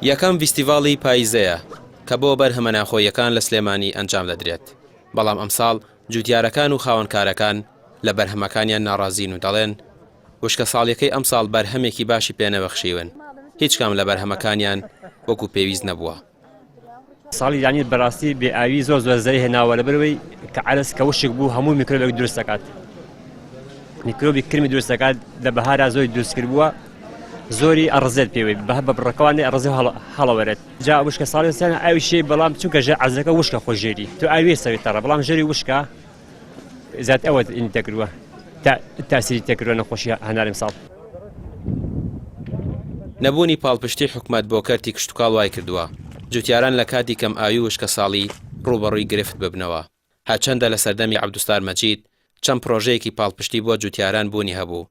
یەکەم ڤیستیڤاڵی پاییزەیە کە بۆ بەرهەمە ناخۆییەکان لە سلێمانی ئەنجام دەدرێت، بەڵام ئەمساڵ جووتیارەکان و خاوەن کارەکان لە بەرهەمەکانیان ناڕازین و دەڵێن، وشکەساڵیەکەی ئەمساڵ بەرهەمێکی باشی پێنەبەخشیون، هیچ کام لە بەرهەمەکانیان وەکو پێویست نەبووە. ساڵی دانیل بەراستی بێ ئاوی زۆر زۆر زەری هێناوە لە بەرەوەی کە عرس کە وشک بوو هەموو میکرۆبێک دروست دەکات میکرۆبی کرمی دروست دەکات لە بەهارا زۆری دروست کرد بووە زۆری ئەڕزێت پێوەی بە بە بڕەکەوانی ئەڕزی هەڵەوەرێت جا وشکە ساڵستان ئاوی شێ بەڵام چونکە ژە عزەکە وشکە خۆ ژێری تو ئاوی سەوی تەڕە بەڵام ژێری وشکە زات ئەوەت ئین تەکروە تا تاسیری تەکروە نەخۆشی هەنارم ساڵ. نەبوونی پاڵپشتی حکومەت بۆ کەرتی کشتوکاڵ وایکردووە جوتیاران لە کاتی کەم ئاوی وشکەساڵی ڕووبەڕووی گرفت ببنەوە، هەرچەندە لە سەردەمی عەبدوستار مەجید چەند پڕۆژەیەکی پاڵپشتی بۆ جوتیاران بوونی هەبوو،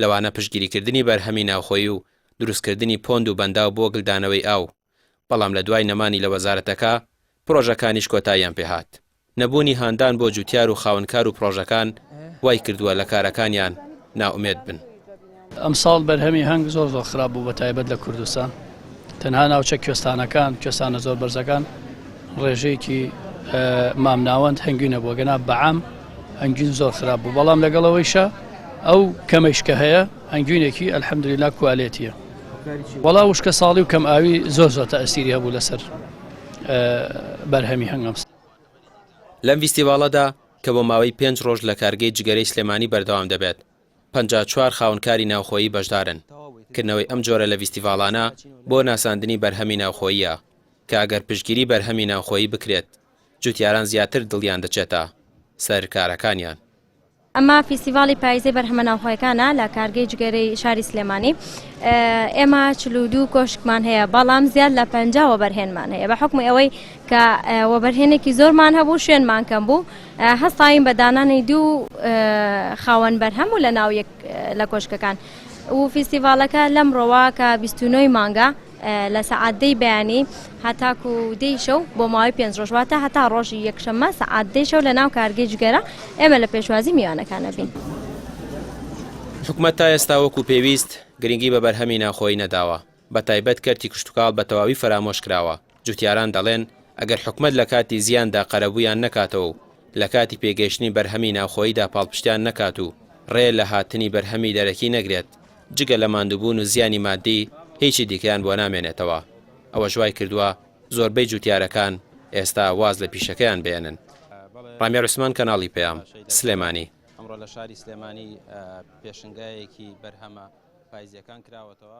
لەوانە پشتگیریکردنی بەرهەمی ناوخۆیی و دروستکردنی پۆند و بەنداو بۆ گلدانەوەی ئاو، بەڵام لە دوای نەمانی لە وەزارەتەکە، پرۆژەکانیش کۆتاییان پێهات. نەبوونی هاندان بۆ جووتیار و خاوەنکار و پرۆژەکان وای کردووە لە کارەکانیان نائومێد بن. ئەمساڵ بەرهەمی هەنگ زۆر زۆر خراپ بوو بە تایبەت لە کوردستان. تەنها ناوچە کوێستانەکان کوێستانە زۆر بەرزەکان ڕێژەیەکی مامناوەند هەنگوینە بۆ گەنا بەعام هەنگوین زۆر خراپ بوو بەڵام لەگەڵەوەیشە ئەو کەمەیشکە هەیە هەنگوینێکی ئەلحەمدللا کوالێتیە وەڵا وشکە ساڵی و کەم ئاوی زۆر زۆر تا ئەستیری هەبوو لەسەر بەرهەمی هەنگەم لەم ڤیستیڤاڵەدا کە بۆ ماوەی پێنج ڕۆژ لە کارگەی جگەرەی سلێمانی بەردەوام دەبێت، پەنجا و چوار خاوەنکاری ناوخۆیی بەشدارن، کردنەوەی ئەم جۆرە لە ڤیستیڤاڵانە بۆ ناساندنی بەرهەمی ناوخۆییە، کە ئەگەر پشتگیری بەرهەمی ناوخۆیی بکرێت، جوتیاران زیاتر دڵیان دەچێتە سەر کارەکانیان. ئەمە فیستیڤاڵی پاییزەی بەرهەمە ناوخۆیەکانە لە کارگەی جگەرەی شاری سلێمانی، ئێمە چل و دوو کۆشکمان هەیە، بەڵام زیاد لە پەنجا وەبەرهێنمان هەیە، بە حوکمی ئەوەی کە وەبەرهێنێکی زۆرمان هەبوو شوێنمان کەم بوو، هەستاین بە دانانی دوو خاوەن بەرهەم و لە ناو یەک لە کۆشکەکان و فیستیڤالەکە لەم ڕۆوا کە بیستنەوەی مانگە لە سەعاتدەی بەیانی هەتاکو و دەیشە و بۆ ماوەی پێنج ڕۆژواتە هەتا ڕۆژی یەکشەممە سەعات دەیشە و لە ناو کارگەی جگەرە ئێمە لە پێشوازی میوانەکانە بین. حکومەت تا ئێستا وەکو پێویست گرنگی بە بەرهەمی ناوخۆیی نەداوە، بە تایبەت کەرتی کشتوکاڵ بە تەواوی فەرامۆش کراوە، جوتیاران دەڵێن، ئەگەر حکومەت لە کاتی زیاندا قەرەبوویان نەکاتەوە و لە کاتی پێگەیشتنی بەرهەمی ناوخۆییدا پاڵپشتیان نەکات و ڕێ لە هاتنی بەرهەمی دەرەکی نەگرێت، جگە لە ماندووبوون و زیانی ماددی هیچی دیکەیان بۆ نامێنێتەوە. ئەوەش وای کردووە زۆربەی جوتیارەکان ئێستا واز لە پیشەکەیان بێنن. ڕامیا عوسمان، کەناڵی پەیام، سلێمانی. ئەمڕۆ لە شاری سلێمانی پێشنگایەکی بەرهەمە پایزییەکان کراوەتەوە.